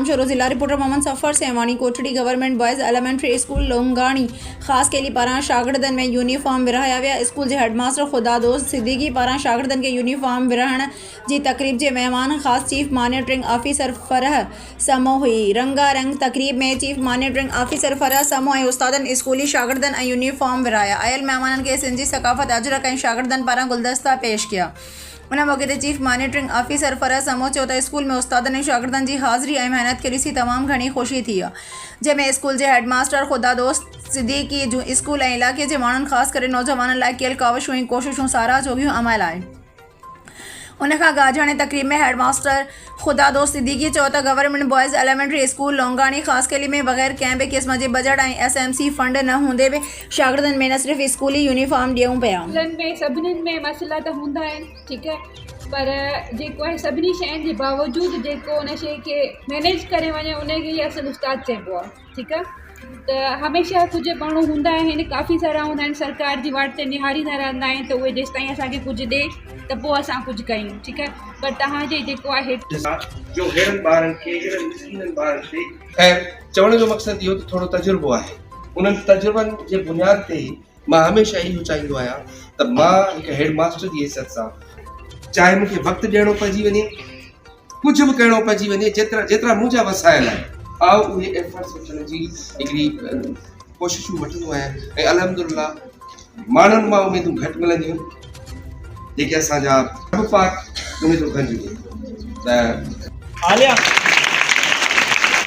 شروع ضلع reporter Muhammad Safar Sehwani Kotri government boys elementary school Longani Khaskheli پاران شاگردن ۾ يونيفارم ورهايا ويا اسڪول جي هيڊ ماستر خدا دوست صديقي پاران شاگردن کي يونيفارم ورهائڻ جي تقريب جي مهمان خاص chief monitoring officer Farah Samoo هئي. رنگا رنگ تقريب ۾ chief monitoring officer Farah Samoo ۽ استادن، اسڪولي شاگردن ۽ يونيفارم ورايا. آيل مهمانن کي سنڌ جي ثقافت، اجرڪ ۽ شاگردن پاران گلدستا پيش ڪيا. ان موقعي تي chief monitoring officer Farah Samoo چيو ته اسڪول ۾ استادن ۽ شاگردن جي حاضري ۽ محنت کي ڏسي تمام گهڻي خوشي ٿي آهي، جنهن ۾ اسڪول جي هيڊ ماستر خدا دوست صديقي جون اسڪول ۽ علائقي جي ماڻهن خاص ڪري نوجوانن لاء ڪيل ڪاوشون ۽ ڪوششون ساراهه جوڳيون عمل آهن. ان کان گاجهاڻي تقريب ۾ هيڊ ماستر خدادوست صديقي چيو ته government boys elementary school Longani Khaskheli ۾ بغير ڪنهن به قسم جي budget ۽ S M C fund نه هوندي به شاگردن ۾ نه صرف اسڪولي يونيفارم ڏيون پيا اسڪولن ۾ سڀني ۾ مسئلا ته هوندا آهن ٺيڪ آهي پر جيڪو آهي سڀني شين جي باوجود جيڪو ان شي کي مينيج ڪري وڃي ان کي اصل استاد چئبو آهي ٺيڪ آ ته هميشه ڪجهه ماڻهو هوندا آهن ڪافي سارا هوندا آهن سرڪار جي واٽ تي نهاريندا رهندا آهن ته اهي جيستائين اسانکي ڪجهه ڏي ته پوء اسان ڪجهه ڪيون ٺيڪ آ پر توهان جي جيڪو آهي جو ههڙن ٻارن کي ههڙن مسڪينن ٻارن تي خير چوڻ جو مقصد اهو ته ٿورو تجربو آهي انهن تجربن جي بنياد تي ئي مان هميشه اهو چاهيندو آهيان ته مان هڪ هيڊ ماستر جي حيثيت سان چاهي مونکي وقت ڏيڻو پئجي وڃي. ڪجهه به ڪهڙو پئجي وڃي جيترا جيترا منهنجا وسايل آهن آء اهي ايفرٽس وٺڻ جي هڪڙي ڪوششون وٺندو آهيان ۽ الحمدلله ماڻهن مان اميدون گهٽ ملنديون جيڪي اسان جا رب پاڪ اميدون کنجي ڏي ته عاليا